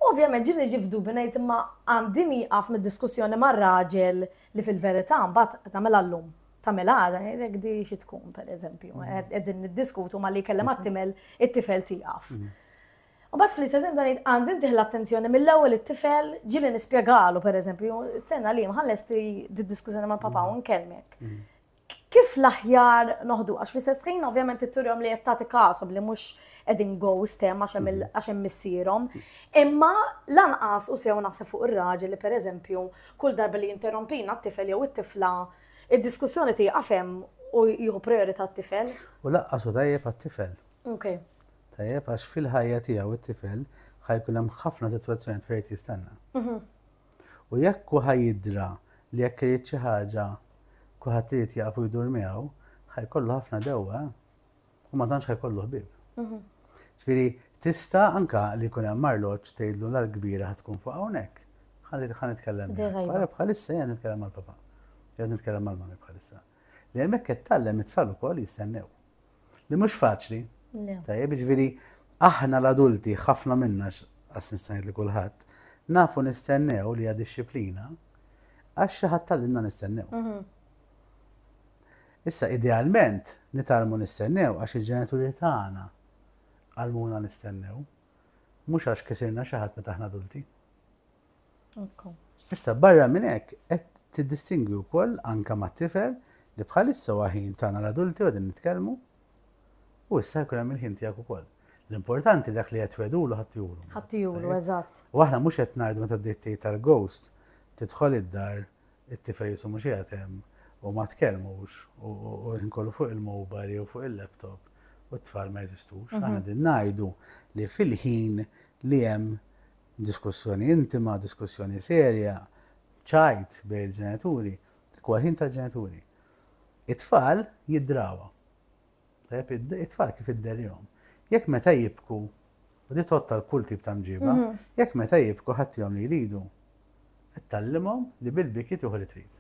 Ovvjament ġieli niġi f'dubi ngħid imma għandi nieqaf mid-diskussjoni mar-raġel li fil-verità mbagħad tagħmilha llum. Tamel għada, jek di xi tkun, per eżempju, qegħdin mm. niddiskutu ma li kellem għattimel it-tifel tiegħek. Mm. U bat fl-istess dan għandin tiħ l-attenzjoni mill-ewwel it-tifel ġili nispjegalu per eżempju, sena li mħalles di diskussjoni ma' papa u mm. nkellmek. Kif l-aħjar noħdu għax fl-istess ħin ovvjament it-turjom li qed tagħti kasom li mhux qegħdin go stem għax hemm missierhom. Imma lanqas u sew naħseb fuq ir-raġel li per eżempju kull darba li jinterrompina t-tifel jew it-tifla Id-diskussjoni tieqaf hemm u jieħu prijorità t-tifel. U lanqas hu tajjeb għat-tifel. Ok. Tajjeb għax fil-ħajja tiegħu t-tifel ħa jkun hemm ħafna sitwazzjonijiet fejn irid jistenna. Mhm. U jekk hu ħa jidra li jekk irid xi ħaġa kulħadd irid jaqaf u jdur miegħu, ħa jkollu ħafna dewwa. u ma tantx ħajkollu ħbieb. Mhm. Ġifieri tista' anka li jkun hemm marloġġ tgħidlu l kbira ħad tkun fuq hawnhekk. Ħalli ħan nitkellem. Għara bħalissa jien nitkellem mal-papa. Jien nitkellem mal-mami bħalissa. Li hemmhekk qed tallem it-tfal ukoll jistennew. Li mhux faċli. Tajjeb, ġifieri aħna l-adulti ħafna minna għas-nistajt li kulħadd nafu nistennew li għad disciplina għax xi ħadd tal-inna nistennew. Mhm. Issa, idealment, nitgħallmu nistennew għax il-ġenituri tagħna għallmuna nistennew, mhux għax kisirna xi ħadd meta aħna adulti. Issa, barra minn hekk, qed tiddistingwi wkoll anke mat-tifel li bħalissa huwa ħin tagħna l-adulti qegħdin nitkellmu u issa jkun hemm il-ħin tiegħek ukoll. L-importanti dak li qed wedulu ħadd juru. Ħadd juru, eżatt. U aħna mhux qed ngħidu meta bdejt tgħid tal-ghost tidħol id-dar It-tifel jisu mhux qiegħed hemm u ma tkellmux u ħin kollu fuq il-mobile jew fuq il-laptop u t-tfal ma jeżistux. Mhm. Aħna din ngħidu li fil-ħin li hemm diskussjoni intima, diskussjoni serja, ċajt bej il-ġenituri, dik ħin tal-ġenituri. It-tfal jiddrawa. Tajjeb, it-tfal kif idderjom. Jekk meta jibku, u di totta l-kull tip ta' mġiba, mhm. jekk meta jibku ħattihom li jridu, tallimhom li bil-biki tieħu li trid.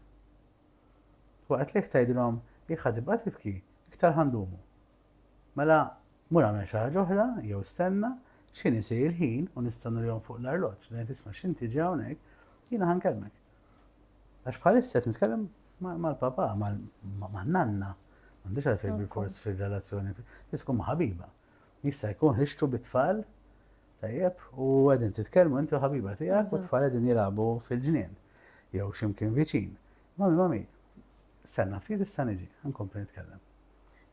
Waqt li jekk tgħidilhom jekk ħatibqa' tibki, iktar ħandumu. Mela, mur għamel xi ħaġa oħra, jew stenna, x'inhi se il-ħin u nistennu lihom fuq l-arloġġ, lejn tisma' x'inti ġew hawnhekk, jiena ħankellmek. Għax bħalissa qed nitkellem mal-papa, mal-nanna, m'għandix għalfejn bil-fors fir-relazzjoni, tiskum ma' ħabiba. Jista' jkun ħixtu bit-tfal, tajjeb, u għedin titkellmu inti u ħabiba tiegħek u tfal qegħdin jilagħbu fil-ġnien jew x'imkien viċin. Mami, mami, senna ftit issa niġi, nkompli nitkellem.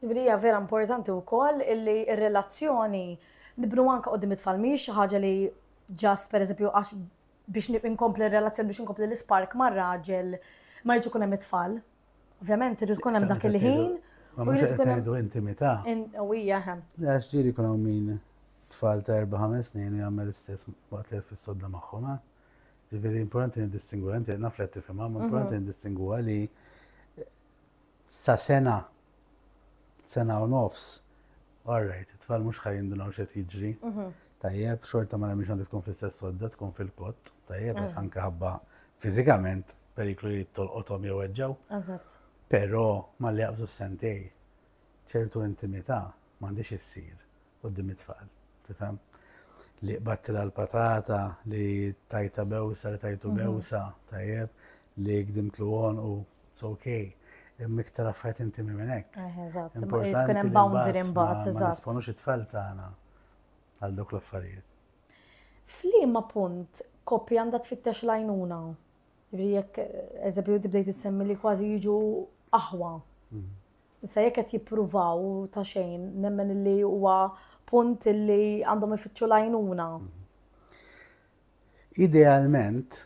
Ibrija vera importanti wkoll illi r-relazzjoni nibnu anke qudiem it-tfal mhix ħaġa li ġast pereżempju għax biex inkompli r-relazzjoni, biex inkompli l-ispark mar-raġel, ma jridx ikun hemm it-tfal. Ovvjament, irid ikun hemm dak il-ħin. Ma mhux qed ngħidu intimità. U hija hemm. Għax ġieli jkun hawn min tfal ta' erba' ħames snin u jagħmel istess waqt li fis-sodda magħhom. Eh? Ġifieri importanti nidistingwa, inti naf li qed tifhimha, ma mhm. importanti nidistingwa li sa sena sena u nofs, all right, it-tfal mhux ħaj jindunaw x'qed jiġri. Mhm. Tajjeb, xorta ma nemmix għandha tkun fl-istess sodda, tkun fil-kott, tajjeb, għax mhm. anke ħabba fiżikament periklu li tolqothom jew eġġew. Eżatt. Però ma li jaqbżu sentej, ċertu intimità m'għandix issir. quddiem it-tfal, tifhem? Li qbadtilha l-patata, li tajta bewsa, li tajtu mhm. bewsa, tajjeb, li gdimtlu għonqu, it's okay. Imma iktar affarijiet intimi minn hekk. Eh, eżatt, tkun hemm boundary mbagħad, eżatt. Ma nisponux it-tfal tagħna għal dok l-affarijiet. F'liema punt koppja għandha tfittex lajnuna. Jekk eżempju tibdejt issemmi li kważi jiġu aħwa. Mhm. Issa jekk qed jippruvaw ta' xejn, nemmen illi huwa punt illi għandhom ifittxu l-għajnuna. Idealment,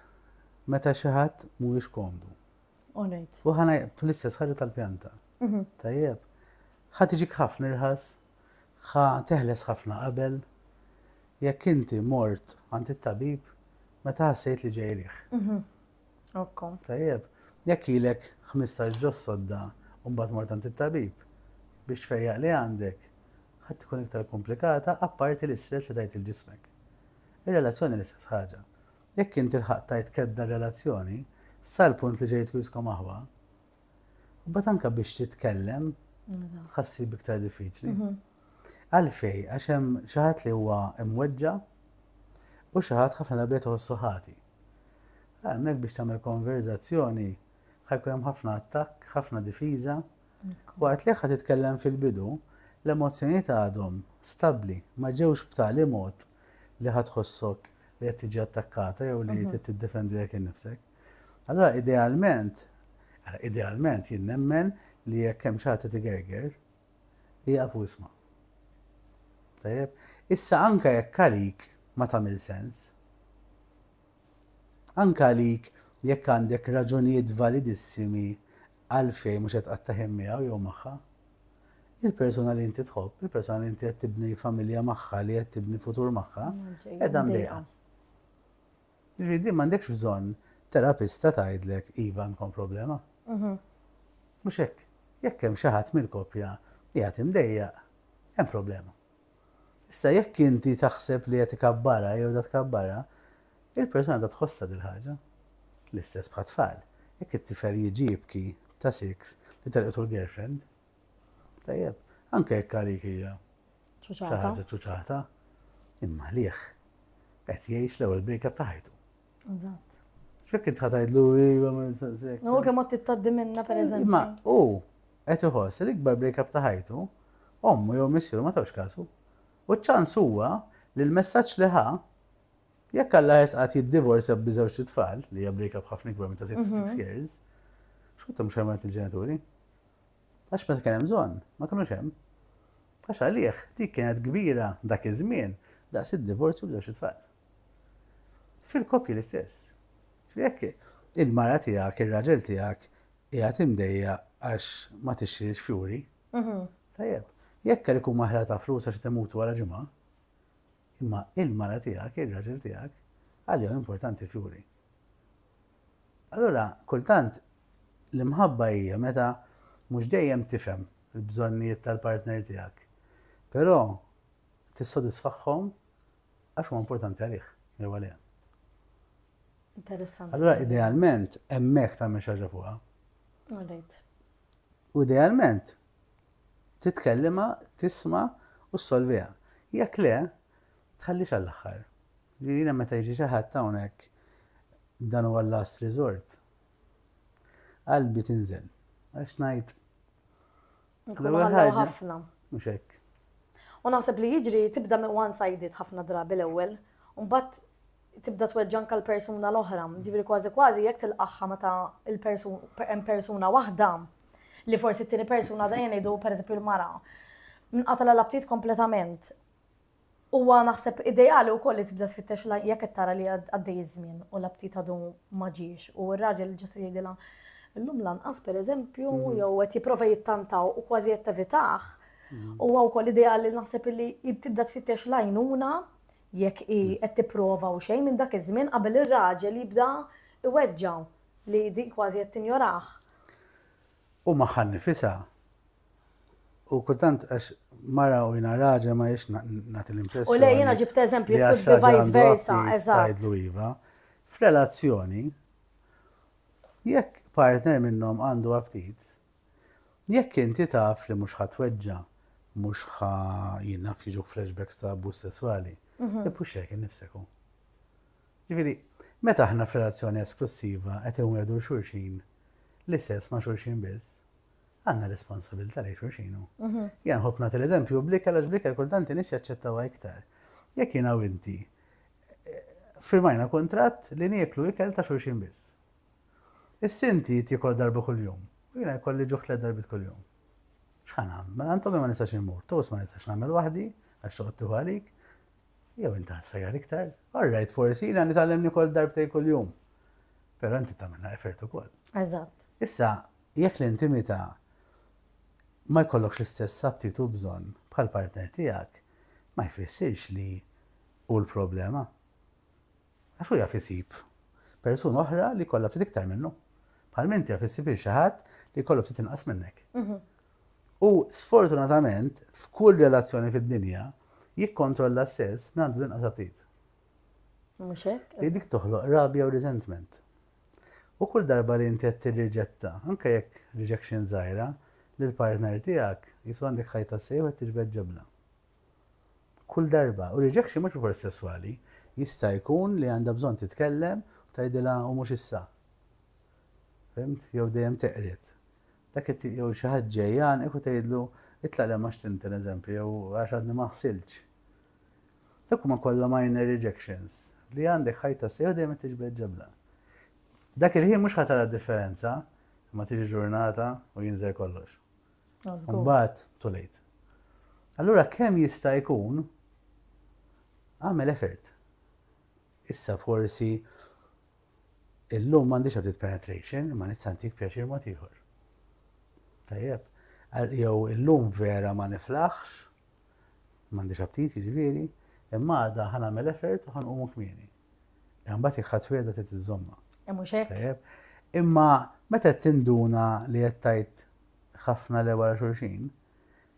meta xi ħadd mhuwiex komdu. U ħana fl-istess ħaġa tal-pjanta. Mhm. Tajjeb. Ħa tiġik ħafna irħas, ħa teħles ħafna qabel. Jekk inti mort għand it-tabib, meta ħassejt li ġejrih. Mhm. Okko. Tajjeb, jekk ilek 15 ġos sodda u mbagħad mort għand it-tabib biex tfejjaq li għandek, ħadd tkun iktar komplikata apparti l-istress li tajt lil ġismek. Ir-relazzjoni l-istess ħaġa. Jekk inti lħaqt tajt kedda r-relazzjoni, sal-punt li ġejt wisq omahwa, Mbagħad anke biex titkellem ħassi biktar diffiċli. Mhm. Għalfej, għax hemm xi ħadd li huwa imweġġa' u xi ħadd ħafna darba jħossu ħati. Għalhekk biex tagħmel konverzazzjoni ħajkun hemm ħafna attakk, ħafna difiża. Waqt li ħadd titkellem fil-bidu, l-emozzjonijiet għadhom stabbli, ma ġewx b'tali mod li ħadd ħossok li qed tiġi attakkata jew li mhm. qed tiddefendi lek innifsek. Allura idealment, idealment jien nemmen li jekk hemm xi ħadd qed igerger, ieqaf u isma'. Tajjeb? Issa anke jekk għalik ma tagħmel sens, anke għalik jekk għandek raġunijiet validissimi għalfejn mhux qed qatta' ħin miegħu jew magħha, il-persuna li inti tħobb, il-persuna li inti qed tibni familja magħha, li qed tibni futur magħha, qiegħda mdejqa. Jiġifieri din m'għandekx bżonn terapista tgħidlek iva għandkom problema. Mhux hekk. Jekk hemm xi ħadd mill-koppja qiegħed imdejjaq, hemm problema. Issa jekk inti taħseb li qed ikabbarha jew da tkabbarha, il-persuna da tħossha dil-ħaġa. L-istess bħat-tfal. Jekk it-tifel jiġi jibki ta' siks li telqtu l-girlfriend, Tajjeb, anke jekk għalik hija. Ċuċata. Ċuċata. Imma liħ. Qed jgħix l-ewwel brika ta' ħajtu. Eżatt. Xekk id ħatajdlu iva ma nistaqsek. U kemm qed tittaddi minna pereżempju. Imma u qed iħoss l-ikbar brika ta' ħajtu, ommu jew missieru ma tawx kasu. U ċ-ċans huwa li l-messaġġ li ħa jekk Alla jesqat jiddivorzja b'żewġ tfal li hija brika b'ħafna ikbar minn ta' 6 mhm. years, xkut hemm xejn il-ġenituri. Għax meta kien hemm bżonn, ma kinux hemm. Għax għalih dik kienet kbira dak iż-żmien daqs id-divorzju b'żewġ itfal. Fil-koppji l-istess. Jekk il-mara tiegħek, ir-raġel tiegħek qiegħed imdejja għax ma tixtrix fjuri. Mhm. Tajjeb, jekk għalik huma ħla ta' flus għax temutu wara ġimgħa, imma il-mara tiegħek, ir-raġel tiegħek, għalihom importanti fjuri. Allura, kultant l-imħabba hija meta mhux dejjem tifhem il-bżonnijiet tal-partner tiegħek, però tissodisfahom għax huwa importanti għalih jew għaliha. Interessanti. Allura, idealment, hemmhekk tagħmel xi ħaġa fuqha. U idealment, titkellima, tisma' u ssolviha. Jekk le, tħallix għall-aħħar. Jiena meta jiġi xi ħadd hawnhekk dan huwa l-last resort. Qalbi tinżel għax ngħid Nkunu ħallew ħafna. Mhux hekk. U naħseb li jiġri tibda one sided ħafna drabi l-ewwel, u mbagħad tibda tweġġanka l-persuna l-oħra. Ġifieri kważi kważi jekk tilqaħħa meta hemm persuna waħda li forsi t-tieni persuna dejjem ngħidu pereżempju l-mara. Nqatala l-aptit kompletament. Huwa naħseb ideali wkoll li tibda tfittex la jekk qed tara li għaddej iż-żmien u l-aptit għadu ma ġiex u r-raġel ġa se jgħidilha llum lanqas pereżempju jew qed jipprova jittantaw u kważi qed tevitah, huwa wkoll ideali naħseb illi tibda tfittex l-għajnuna jekk hi qed tipprova u xejn minn dak iż-żmien qabel ir-raġel jibda jweġġa' li din kważi qed tinjorah. u magħha nnifisha u kultant għax mara u jiena raġel ma jiex nagħti l-impressjoni. U lej jiena ġibt eżempju jekk bi vice versa, eżatt. iva. F'relazzjoni jekk partner minnhom għandu aptit, jekk inti taf li mhux ħatweġġa, mhux ħa jinnaf jiġu flashbacks ta' abbuż sesswali, mhm. ippux jekk innifseku. Jiġifieri, meta aħna f'relazzjoni esklussiva qed inwiegħdu 'l xulxin l-istess ma' xulxin biss, għandna responsabilità lejn xulxin hu. Jien nħobb nagħti l-eżempju bl-ikel għax bl-ikel kultant in-nies jaċċettawha iktar. Jekk jiena u inti eh, firmajna kuntratt li nieklu ikel ta' xulxin biss. Is-sinti tikol darba kuljum, u jiena jkolli ġuħ tliet darbit kuljum. X'ħan għamel? Mela għandhom ma nistax immur, tos ma nistax nagħmel waħdi, għax toqgħod tieħu għalik, Jew inti ħassajjar iktar? All right, forsi jiena nitgħallem nikol darbtejn kuljum. Però inti tagħmilha effort ukoll. Eżatt. Issa, jekk l-intimità ma jkollokx l-istess aptitu bżonn bħal partner tiegħek, ma jfissirx li hu l-problema. Għax hu jaf isib persuna oħra li jkollha ftit iktar minnu. Bħal minn jaf isib il xi ħadd li jkollu ftit inqas minnek. Mhm. U sfortunatament, f'kull relazzjoni fid-dinja, jikkontrolla s-sess minn għandu l-inqas aptit. Mhux hekk? Li dik toħloq rabja u resentment. U kull darba li inti qed tirriġetta, anke jekk rejection żgħira, li l-partner tiegħek jisu għandek ħajta sejħu qed tiġbed ġebla. kull darba u rejection mhux bilfors sesswali jista' jkun li għandha bżonn titkellem u tgħidilha u mhux issa fhimt jew dejjem teqred dak it-tip jew xi ħadd ġej jgħannqek u tgħidlu itlaq le ma xtimt pereżempju jew għax għadni ma ħsiltx dak huma kollha minor rejections li għandek ħajta sejħu dejjem qed tiġbed ġabla dak il-ħin mhux ħa tara differenza imma tiġi ġurnata u jinżel kollox Mbagħad too late. Allura kemm jista' jkun għamel effort. Issa forsi illum m'għandix għadit penetration, ma nista' ntik pjaċir mod ieħor. Tajjeb, jew illum vera ma niflaħx, m'għandix aptit jiġifieri, imma għadha ħanagħmel effort u ħanqumu kmieni. Imma mbagħad jekk ħadd wegħda trid iżżommha. Hemm mhux hekk. Imma meta qed tinduna li qed tajt ħafna le wara xulxin,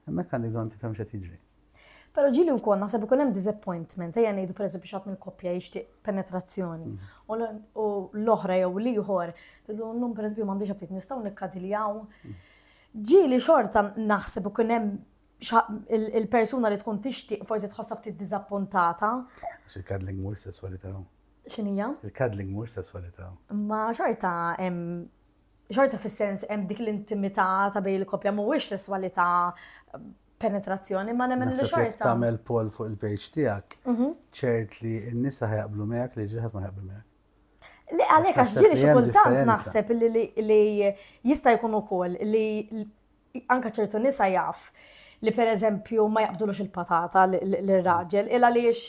hemmhekk għandek bżonn tifhem x'qed jiġri. Pero ġili u kol, nasab ikun hemm disappointment, ejja ngħidu pereżu biex ħadd mill-koppja jixtieq penetrazzjoni. Mm. U l-oħra jew l-ieħor, tidlu nnum pereżu m'għandix aptit nistgħu nikkadiljaw. Mm. Ġili xorta naħseb ikun hemm il-persuna li tkun tixtieq forsi tħossha ftit diżappuntata. Il-cuddling mhux sesswalità. X'inhija? Il-cuddling mhux sesswalità. Ma xorta hemm xorta fis-sens hemm dik l-intimità ta' bej il-koppja mhuwiex sesswalità penetrazzjoni ma nemmen li xorta. Tagħmel pol fuq il-page tiegħek, mhm. ċert li n-nisa ħajqblu miegħek li ġieħed ma ħajqblu miegħek. Li għalhekk għax ġieli xi kultant naħseb li jista' jkun ukoll li anke ċertu nisa jaf li pereżempju ma jaqbdulux il-patata lir-raġel, il għaliex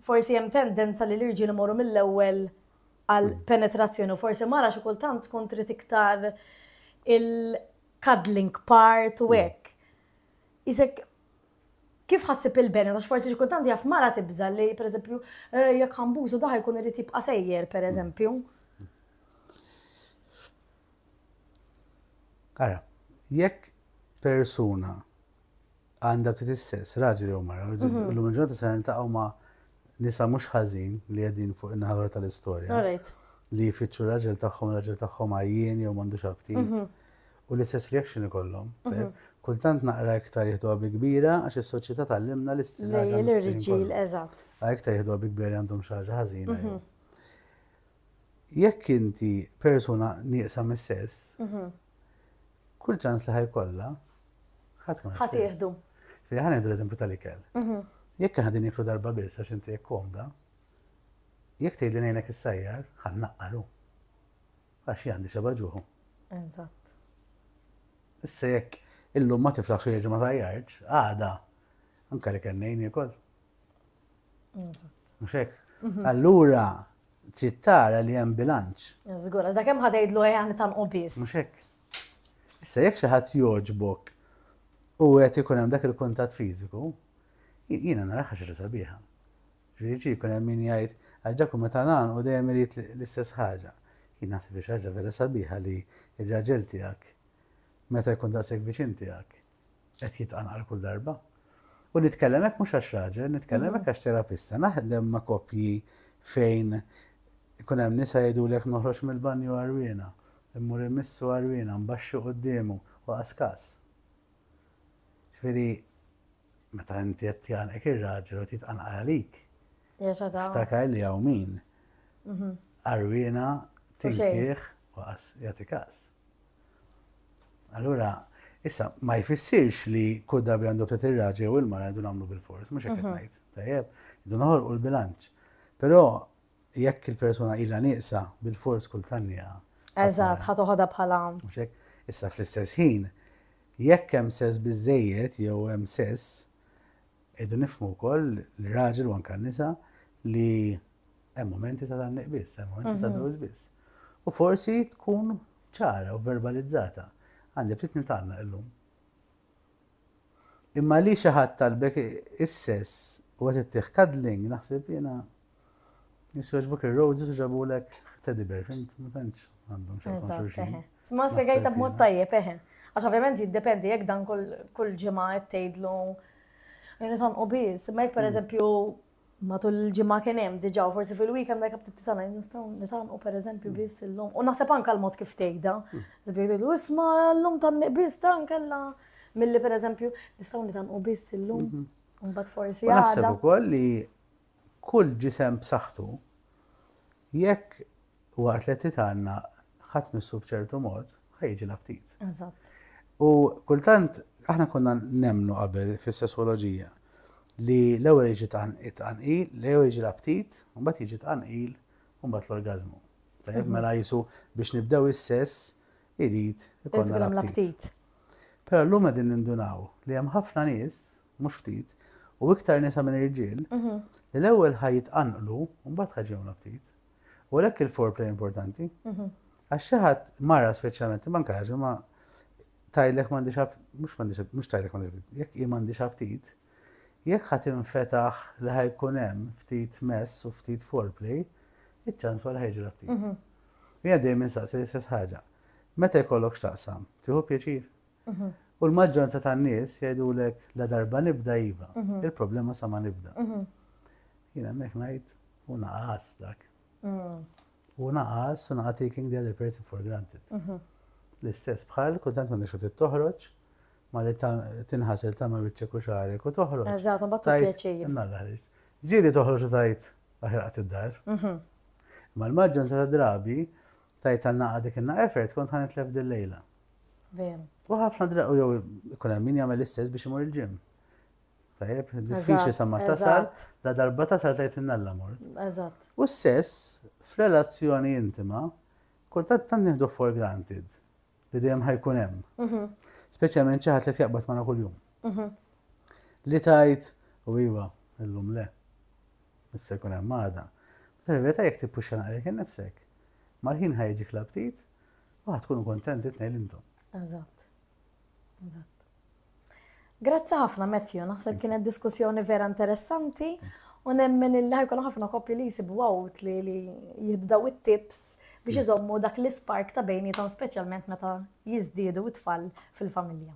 forsi hemm tendenza li l-irġiel imorru mill-ewwel għal penetrazzjoni u forsi mara xi kultant tkun trid iktar il-cuddling part u hekk. Isek kif ħassib il-benet, għax forsi xi kultant jaf mara tibża li pereżempju eh, jekk ħambużu daħ jkun irid jibqa' sejjer pereżempju. Ara, jekk persuna għandha ftit is-sess, raġel jew mara, mhm. l-lum il-ġurnata se niltaqgħu ma' nisa mhux ħażin li qegħdin fuq in-naħa tal-istorja. Li jfittxu raġel tagħhom, raġel tagħhom għajjien jew m'għandux aptit. Mhm. U l-istess reaction ikollhom. Mhm. Kultant naqra iktar jieħdu għabi kbira għax is-soċjetà tal-limna l-istina. L-irġiel, eżatt. Iktar jieħdu għabi kbira għandhom xaġa ħażina. jekk inti persuna nieqsa mis-sess, kull ċans li ħajkollha ħadd ma Ħadd jieħdu. Ġifieri ħa nieħdu l-eżempju tal-ikel. Jekk aħna din niklu darba biss għax inti jekk komda, jekk tgħidli ngħinek is-sajjar, ħan naqqaru. Għax għandi xeba ġuħu. Eżatt. Issa jekk illum ma tiflaħx u ma tajjarġ, għada, anka li kellni jkun. Mhux hekk? Mhm. Allura trid tara li hemm bilanċ. Żgur, għax dak hemm ħadejdlu ejja ta' biss. Mhux hekk. Issa jekk xi ħadd jogħġbok u qed ikun hemm dak il-kuntatt fiżiku, jiena nara ħaġa sabiħa. Ġifieri jkun hemm min jgħid għal dak u meta nagħan u dejjem irid l-istess ħaġa. Jien naħseb xi ħaġa vera sabiħa li r-raġel tiegħek meta jkun daqshekk viċin tiegħek qed jitqanqal kull darba. U nitkellem hekk mhux għax raġel, nitkellem hekk għax terapista, naħdem ma' koppji fejn ikun hemm nisa jgħidulek noħroġ mill-banju għarwiena, immur immissu għarwiena, mbaxxi quddiemu, u qaskas. Ġifieri, meta inti qed tjanqek ir-raġel u titqanqal għalik. Ftakar li hawn min. Mhm. Għarwiena, tinkieħ, u qas, jagħti każ. Allura, issa, ma jfissirx li kull darba għandu btet il-raġel u l-mara għandu namlu bil-fors, mux għek najt, tajjeb, għandu noħol u l-bilanċ. Pero, jekk il-persona illa nieqsa bil-fors kull tannija. Eżat, ħat uħoda bħala. Issa fl-istess ħin, jekk hemm sess bizzejiet jew hemm sess, idu nifmu wkoll l-raġel u anka nisa li Hemm momenti ta' dan biss, hemm momenti ta' blues biss. U forsi tkun ċara u verbalizzata. Għandi bdiet nitgħallem illum. Imma li xi ħadd talbek is-sess u qed ittih cuddling naħseb jiena jisweġbuk ir-roses u ġabulek teddy bear, fint, ma tantx għandhom xejn xulxin. Ma spjegajta b'mod tajjeb, eħe. Għax ovvjament jiddependi jekk dan kull ġimgħa qed tgħidlu Jena tanqu biz, ma jek per mm. eżempju Matul il-ġimgħa kien hemm diġà u forsi fil-weekend dak ftit tisana nistgħu nitgħanqu pereżempju biss illum. U naħseb anke l-mod kif tgħidha. Jgħidu isma' llum tanniq biss ta' nkella milli pereżempju nistgħu nitgħanqu biss illum. Mhm. Imbagħad forsi għadha. Naħseb ukoll li kull ġisem b'saħħtu Jekk waqt li titanna ħadd missu b'ċertu mod, ħa jiġi l-aptit. Eżatt. U kultant aħna konna nemnu qabel fis-sesswoloġija li l-ewwel jiġi tqanqil, l-ewwel jiġi l-aptit, mbagħad jiġi tqanqil, mbagħad l-orgażmu. Tajjeb mhm. mela jisu biex nibdew is-sess irid ikollna l-aptit. Però llum qegħdin nindunaw li hemm ħafna nies mhux ftit, u iktar nisa minn irġiel, li l-ewwel ħaj jitqanqlu u mbagħad ħaj ġewna ftit. U għalhekk il-foreplay importanti. Għax xi ħadd mara speċjalment imma nkaġi ma tajlek m'għandix mhux m'għandix mhux tajlek m'għandix jekk hi m'għandix aptit, jekk ħadd infetaħ li ħajkun hemm ftit mess u ftit foreplay, iċ-ċans wara ħajġi aptit. Jien dejjem insaqsi l-istess ħaġa. Meta jkollok x'taqsam, tieħu pjaċir? U l-maġġoranza tan-nies jgħidulek la darba nibda iva, il-problema sa ma nibda. Jiena hemmhekk ngħid u naqas dak. Mm. U naqas u naqas taking the other person for granted. L-istess bħal kultant ma nixu toħroġ ma li tinħasel ta' ma wiċċek u xarek u toħroġ. Eżatt, u battu pjaċir. Nalla ħriġ. Ġiri toħroġ u tajt aħraqt id-dar. Mhm. Ma l-maġġun sa' drabi tajt għanna għadik inna effort kont ħanet lef dil-lejla. Veru. U ħafna drabi jew ikun hemm min jagħmel l-istess biex imur il-ġim. Tajjeb, diffiċli sa ma tasal, la darba tasal tajt innalla mor. Eżatt. U s-sess f'relazzjoni intima kultant tant nieħdu for granted li dejjem ħajkun hemm. Mhm. Speċjalment xi ħadd li tjaqbad magħna kuljum. Mhm. Li tajt u iva, illum le. Issa jkun hemm għada. Meta vera jekk tippuxa naqrek innifsek. Mal-ħin ħajġi klabtit U tkunu kontenti tnejn intom. Eżatt. Eżatt. Grazzi ħafna Matthew, naħseb kienet diskussjoni vera interessanti u nemmen il ħajkun ħafna koppji li jisibu għawt li jihdu daw it-tips biex iżommu dak l-ispark ta' bejnietom speċjalment meta jiżdiedu it-tfal fil-familja.